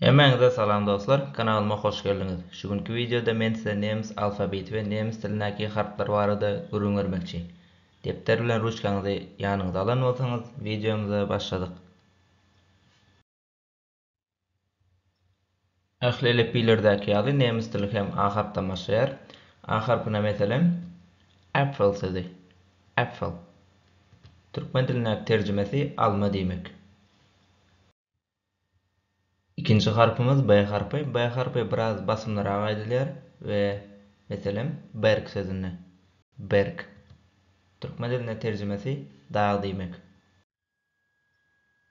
Hemmäňize salam dostlar, kanalyma hoş geldiňiz. Şu günki wideoda men size nemes alfabeti we nemes dilindäki harplar barada gürrüň bermekçi. Depder bilen ruçkaňyzy ýanyňyza alan bolsaňyz, wideomyza başladyk. Ähli elipbiýlerdäki ýaly nemes dili hem A harpdan başlaýar. A harpyna meselem, Äpfel sözi, Äpfel. Türkmen dilindäki terjimesi alma diýmek. Ikinji harpymyz B harpy. B harpy biraz basymlyrak aýdylýar we meselem, berk sözünde. Berk. Türkmen dilinde terjimesi dag diýmek.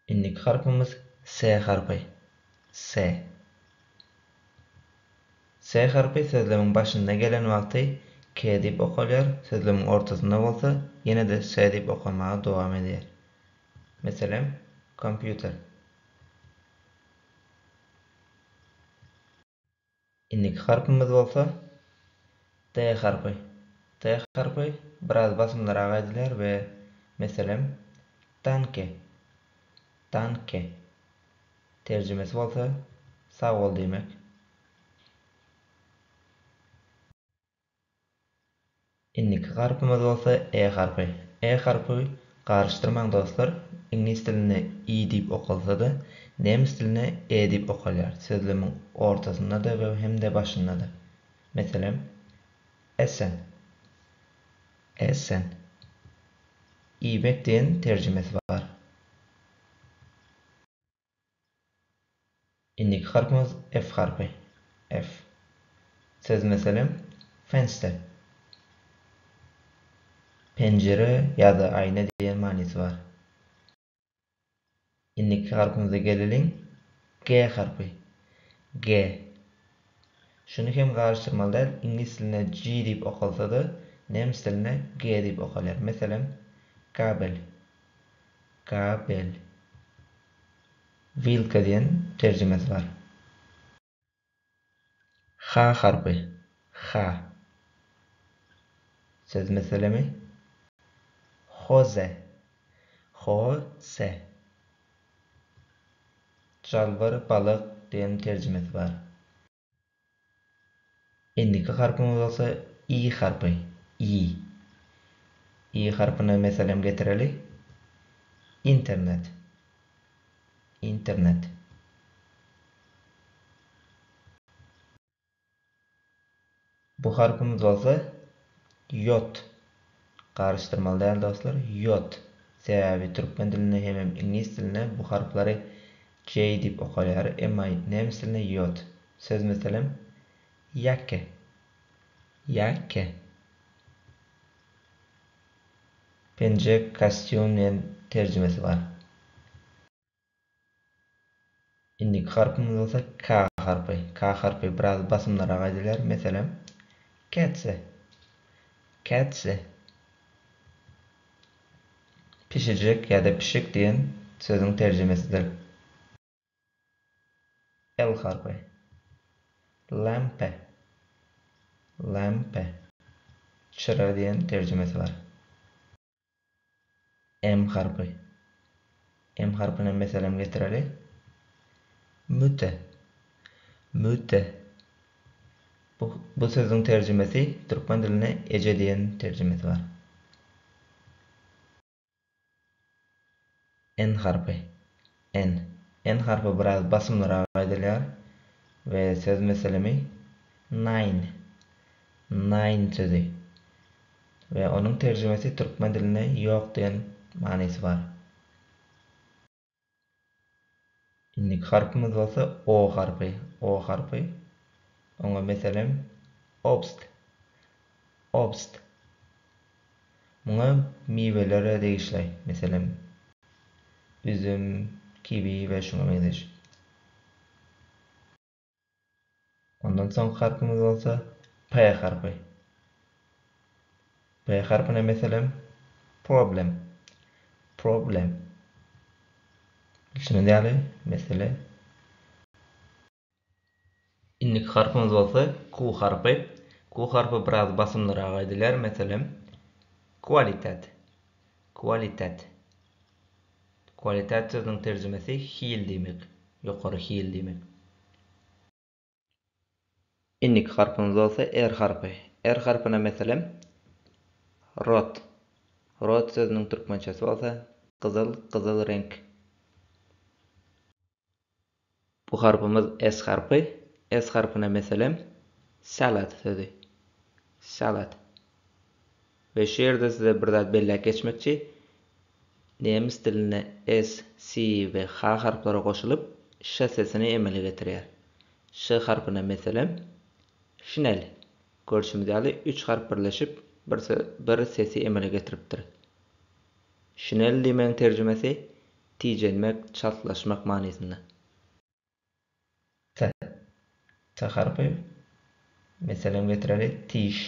Indiki harpymyz S harpy. S. S harpy sözlemiň başynda gelen wagty K diýip okalýar, sözlemiň ortasynda bolsa ýene-de S diýip okanmaga dowam edýär. Meselem, kompýuter. Indiki harpymyz bolsa D harpy. D harpy biraz basymlyrak aýdylýar we meselem, Danke. Danke. Terjimesi bolsa sag bol diýmek. Indiki harpymyz bolsa E harpy. E harpy garyşdyrmaň dostlar, iňlis dilinde i diýip okalsa-da, nemes dilinde e diýip okalýar, sözlemiň ortasynda-da we hem-de başynda-da. Meselem, Essen. Essen. Iýmek diýen terjimesi bar. Indiki harpymyz F harpy. F. Söz meselem, Fenster. Penjire ýa-da aýna diýen manysy bar. Indiki harpymyza geleliň, G harpy. G. Şuny hem garyşdyrmaly däl, iňlis dilinde G diýip okalsa-da, nemes dilinde G diýip okalýar. Meselem, Gabel. Gabel. Wilka diýen terjimesi bar. H harpy. H. Söz meselemi. Hoze. Ho-se. Jalbyr balyk diýen terjimesi bar. Indiki harpymyz bolsa i harpy, ýi. I harpyna meselem getireli. Internet. Internet. Bu harpymyz bolsa ýot. Garyşdyrmaly däl dostlar, ýot. Sebäbi türkmen dilinde hemem iňlis dilinde bu harplary J diýip okalýar, emma nemes dilinde ýot. Söz meselem, Jacke. Jacke. Penjek, kostýum diýen terjimesi bar. Indiki harpymyz bolsa K harpy. K harpy biraz basymlyrak aýdylýar. Meselem, kätse, kätse. Pişijek ýa-da pişik diýen sözüň terjimesidir. L harpy. Lampe, lampe, çyra diýen terjimesi bar. M harpy. M harpyna meselem getireli. Müte. Müte. Bu, bu sözüň terjimesi türkmen diline eje diýen terjimesi bar. N harpy. N. N harpy biraz basymlyrak aýdylýar we söz meselemi nine, naýyn sözi we onuň terjimesi türkmen dilinde ýok diýen manysy bar. Indiki harpymyz bolsa O harpy. O harpy. Oňa meselem obst. Obst. Muňa miwelere degişli. Meselem, üzüm, kiwi we şuňa meňzeş. Ondan soňky harpymyz bolsa P harpy. P harpyna meselem problem, problem. Bilşiňiz ýaly, mesele. Indiki harpymyz bolsa Q harpy. Q harpy biraz basymlyrak aýdylýar, meselem, kwalitet, kwalitet. Qualitat sözüniň terjimesi hil diýmek, ýokary hil diýmek. Indiki harpymyz bolsa R harpy. R harpyna meselem, rot. Rot sözüniň türkmençesi bolsa gyzyl, gyzyl reňk. Bu harpymyz S harpy. S harpyna meselem, salad sözi. Salad. We şu ýerde size bir zat belläp geçmekçi. Nemes dilinde S, S we H harplary goşulyp, ş sesini emele getirýär. Ş harpyna meselem, şinel. Görşümiz ýaly, üç harp birleşip, bir sesi emele getiripdir. Şinel diýmegiň terjimesi tijenmek, çaltlaşmak manysynda. T. T harpy. Meselem getireli, tiş.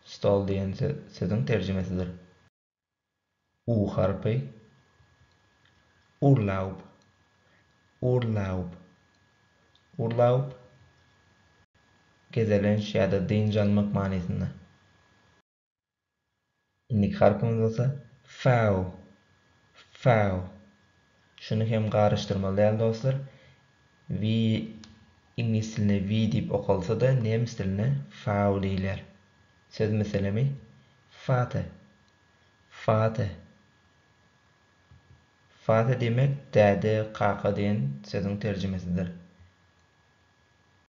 Stol diýen sözüň terjimesidir. U harpy. Urlaub. Urlaub. Urlaub. Gezelenç ýa-da dynç almak manysynda. Indiki harpymyz bolsa Fau. Fau. Şuny hem garyşdyrmaly däl dostlar. We iňlis dilinde we diýip okalsa-da nemes dilinde Fau diýilýär. Söz meselemi Fate. Fate. Fate diýmek däde, kaka diýen sözüň terjimesidir.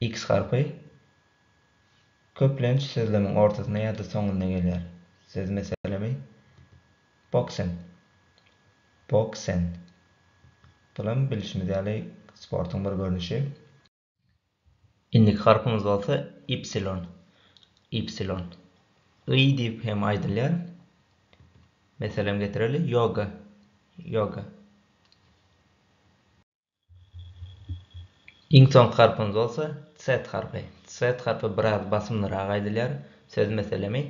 X harpy köplenç sözlemiň ortasynda ýa-da soňunda gelýär. Siz, meselemi, boksen, Boxen, bulam bilşimiz ýaly sportuň bir görnüşi. Indiki harpymyz bolsa ypsilon, Ypsilon. Y diýip hem aýdylýar. Meselem getireli, ýoga, Yoga. Iň soňky harpymyz bolsa Z harpy. Z harpy biraz basymlyrak aýdylýar. Söz meselemi,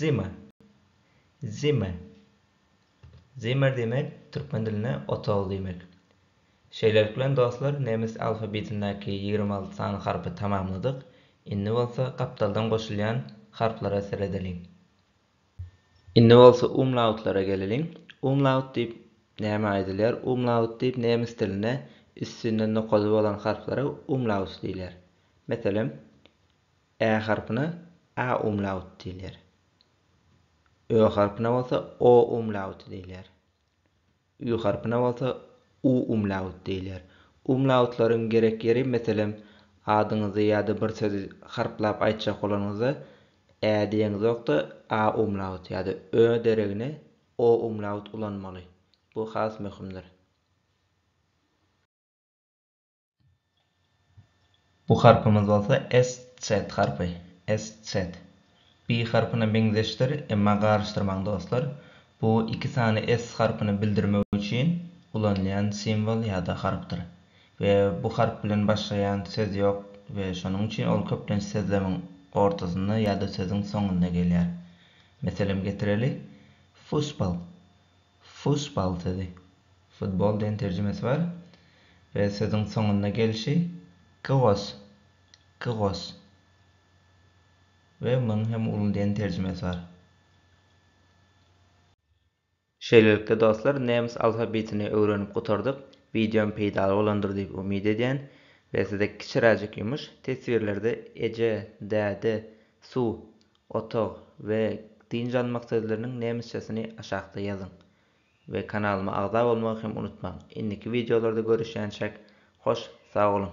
Zimmer. Zimmer. Zimmer diýmek, türkmen dilinde otag diýmek. Şeýlelik bilen, dostlar, nemes alfabetindäki ýigrimi alty sany harpy tamamladyk. Indi bolsa gapdaldan goşulýan harplara seredeliň. Indi bolsa umlautlara geleliň. Umlaut diýip nämä aýdylýar? Umlaut diýip nemes dilinde üstünde nokady bolan harplara umlaut diýilýär. Meselem, ä harpyna a umlaut diýilýär. Ö harpyna bolsa o umlauty diýilýär. Ü harpyna bolsa U umlaut diýilýär. Umlautlaryň gerek ýeri, meselem, adyňyzy ýa-da bir sözi harplap aýtjak bolanyňyzda Ä diýeňizokda A umlaut ýa-da Ö deregine O umlaut ulanmaly. Bu has möhümdir. Bu harpymyz bolsa SZ harpy. SZ. Bi harpyna meňzeşdir, emma garyşdyrmaň dostlar. Bu iki sany S harpyny bildirmek üçin ulanylýan simwol ýa-da harpdyr. We bu harp bilen başlaýan söz ýok we şonuň üçin ol köplenç sözlemiň ortasynda ýa-da sözüň soňunda gelýär. Meselem getireli, Fussball. Fussball sözi futbol diýen terjimesi bar we sözüň soňunda gelşi gyos, gyos we munuň hem uly diýen terjimesi bar. Şeýlelikde dostlar nemes alfabetini öwrenip gutardyk, wideom peýdaly bolandyr diýip umyt edýän we size kiçiräjik ýumuş, teswirlerde eje, däde, suw, Otag, we dynç almak sözleriniň nemesçesini aşakda ýazyň. We kanalyma agza bolmagy hem unutmaň. Indiki wideolarda görüşýänçäk, hoş sag boluň!